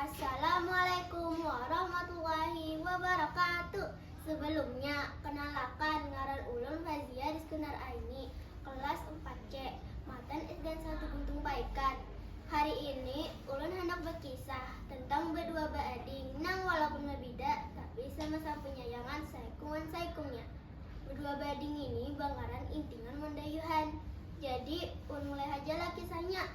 Assalamualaikum warahmatullahi wabarakatuh. Sebelumnya, kenalakan ngaran ulun Fazia Rizkunar Aini, kelas 4C, matan SDN 1 Buntung Paikan. Hari ini, ulun handak berkisah tentang berdua beading nang walaupun berbida, tapi sama-sama penyayangan saikung wan saikungnya. Berdua beading ini bangaran Intingan wan Dayuhan. Jadi, ulun mulai haja lah kisahnya.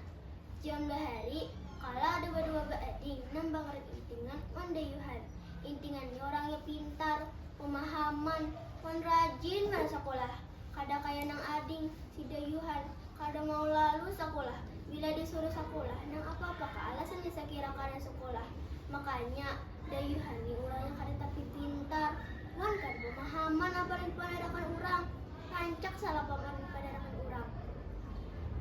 Siang bahari, kala ada badua baading nang bangering intingan wan dayuhan. Intingan ni orangnya pintar, pamahaman, wan rajin banar sakulah. Kada kaya nang ading, si dayuhan, kada mau lalu sakulah. Bila disuruh sakulah nang apa-apa kaalasannya sakira kada sakulah. Makanya, dayuhan ni urangnya kada tapi pintar wan kada pamahaman apa nang dipanerakan urang. Rancak salah pamar dipadarakan urang.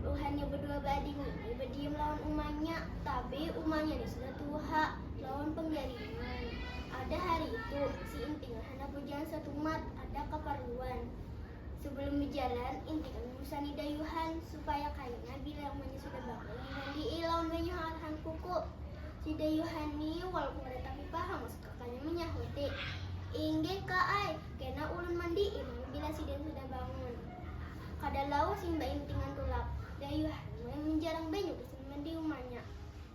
Buhannya bedua baading ini badiam lawan umanya, tabe umanya ni sudah tuha lawan panggaringan. Ada hari itu, si Intingan handak bajalan satumat, ada kaparluan. Sebelum bajalan, Intingan mambusani dayuhan supaya kaina bila umanya sudah bangun dimandii lawan banyu hangat hankuku. Si dayuhan ni walaupun kada tapi paham. Kakaknya manyahuti, Inggih ka ai, kena ulun mandi'i nang bila sidin sudah bangun. Kada lawas imbah intingan tulak, Dayuh mulai manjarang banyu di sumber di umanya.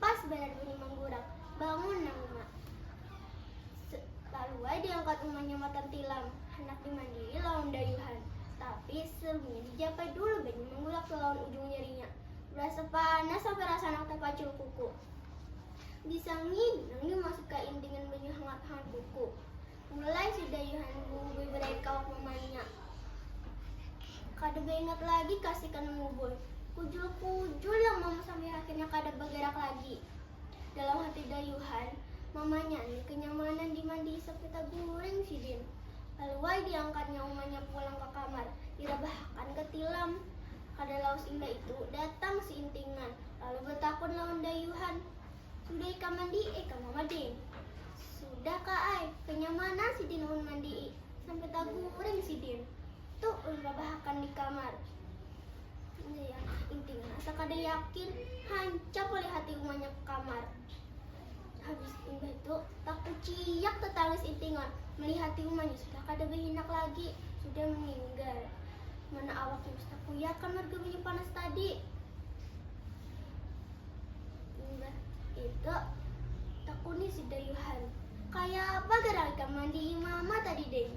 Pas banar bunyi manggurak, bangun nang uma. Lalu ai diangkat umanya matan tilam, handak dimandi'i lawan dayuhan. Tapi sebelumnya dijapai dulu banyu manggurak lawan ujung jarinya. Berasa panas sampai rasa handak tapacuh kuku. Bisa nginum yu masuk ka in dengan banyu hangat-hangat buku. Mulai sudah Yohan Bungui berair kawak mamanya. Kada baingat lagi ka si Kanang Bubul. Kujul-kujul yang mama sampai akhirnya kada bagarak lagi. Dalam hati dayuhan, mamanya ni kanyamanan dimandii sampai taguring sidin. Lalu ai diangkatnya umanya pulang ka kamar, dirabahakan ka tilam. Kada lawas imbah itu, datang si Intingan. Lalu batakun lawan dayuhan, Sudah ikam mandi'i ka Mama Din? Sudah Ka ai, kanyamanan sidin ulun mandi'i, sampai taguring sidin. Tu ulun rabahakan di kamar. Intinya asa kada yakin, hancap oleh hati umanya ka kamar. Habis imbah tu, takuciak tatangis intingan malihati umanya sudah kada bahinak lagi, sudah maninggal. Mana awak Dimas takuyakan marga banyu panas tadi. Imbah itu, takuni si Dayuhan, Kayapa garang ikam mandii mama tadi ding?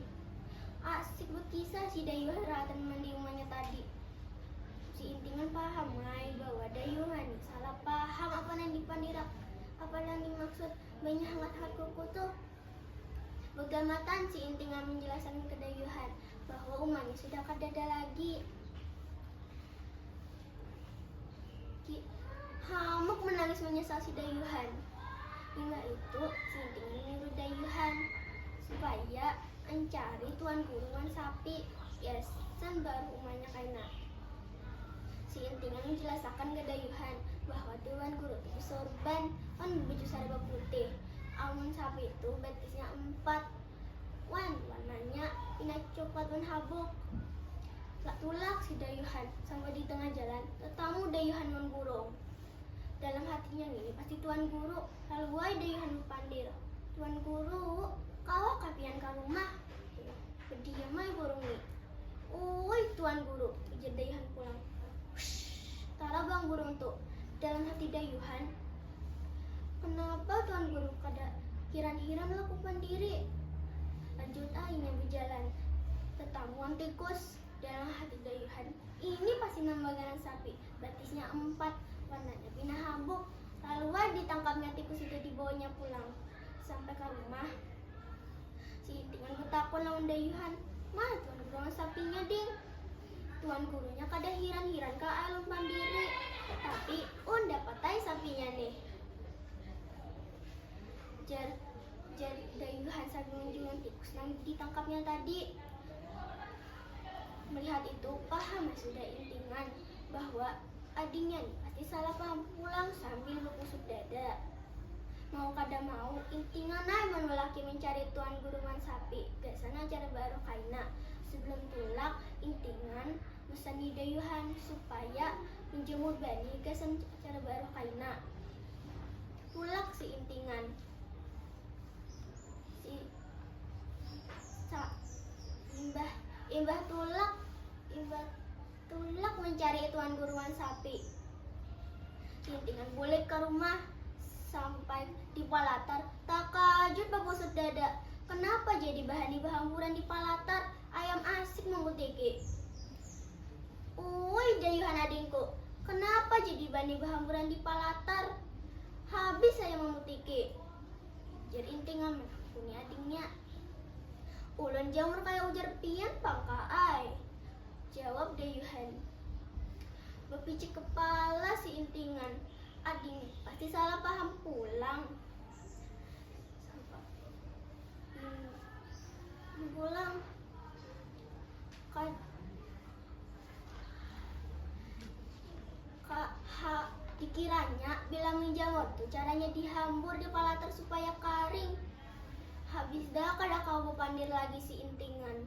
Asik bakisah si Dayuhan rahatan mandii umanya tadi. Si intingan paham ai bahwa Dayuhan Salah paham apa nang dipandirak. Apa nang dimaksud banyu hangat-hangat kuku tuh? Begamatan si Inti ngamin jelasan kedayuhan bahwa umanya sudah kadada lagi. Ki Hamuk menangis menyesal si dayuhan. Imbah itu, si Inti menyuruh dayuhan supaya ancari Tuan Guru wan Sapi. Gasan baruh umanya kaina. Si Inti nang manjalasakan gadayuhan bahwa ti wan guru ti basorban wan babaju sarba putih. Amun sapi tu batisnya umpat wan warnanya pina coklat wan habuk. Tulak si dayuhan sampai di tengah jalan tatamu dayuhan wan burung. Dalam hatinya ngini pasti tuan guru, lalu ai dayuhan bapandir, Tuan guru, kawakah pian ka rumah? Berdiam ai burung ni. Ui, Tuan Guru, ujar Dayuhan pulang. Hush, tarabang burung tu. Dalam hati Dayuhan, Kenapa Tuan Guru kada hiran-hiran laku pandiri? Lanjut ai inya bejalan. Tetamuan tikus. Dalam hati Dayuhan, ini pasti nang baganan sapi. Batisnya empat, warnanya pina habuk. Lalu ditangkapnya tikus itu dibawanya pulang. Sampai ka rumah, si Lintingan betakun lawan dayuhan, Ma, tuan guru lawan sapinya ding. Tuan gurunya kada hiran-hiran ka ai ulun pandiri, tapi un dapat ai sapinya nih. Jar, jar dayuhan sambil menunjukkan tikus nang ditangkapnya tadi. Melihat itu, paham ai sudah Lintingan. bahwa adingnya ni pasti salah paham pulang sambil bekusuk dada. Mau kada mau, intingan ai mun lelaki mencari tuan gurungan sapi, gasan acara baru kaina. Sebelum tulak, intingan meseni dayuhan supaya menjemur banih gasan acara baru kaina. Tulak si intingan. Si sa, imbah imbah tulak imbah Tulak mancari ituan guruan sapi. Lintingan bulik ka rumah, sampai di palatar takajut babusut dada, kenapa jadi bahani bahamburan di palatar, ayam asik mangkutiki. Uwuy dayuhan adingku, kenapa jadi bani bahamburan di palatar, habis saya mamutiki. Ujar Intingan manakuni adingnya. Ulun jamur kaya ujar pian pang Ka ai. Jawab Dayuhan. Bapicik kepala si Intingan. Ading pasti salah paham pulang. Hmm, pulang. Ka, ka, ha, dikiranya bila menjawab tuh caranya dihambur di palater supaya kering. Habis dah kada kau bepandir lagi si Intingan.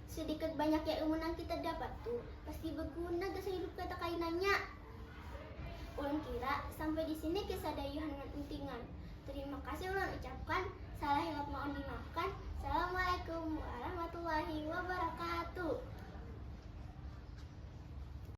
Sedikit banyaknya ilmu nang kita dapat tu pasti beguna gasan hidup kita kainanya. Ulun kira sampai di sini kisah dayuhan wan entingan. Terima kasih ulun ucapkan, salah hilap maun dimaafkan. Assalamualaikum warahmatullahi wabarakatuh.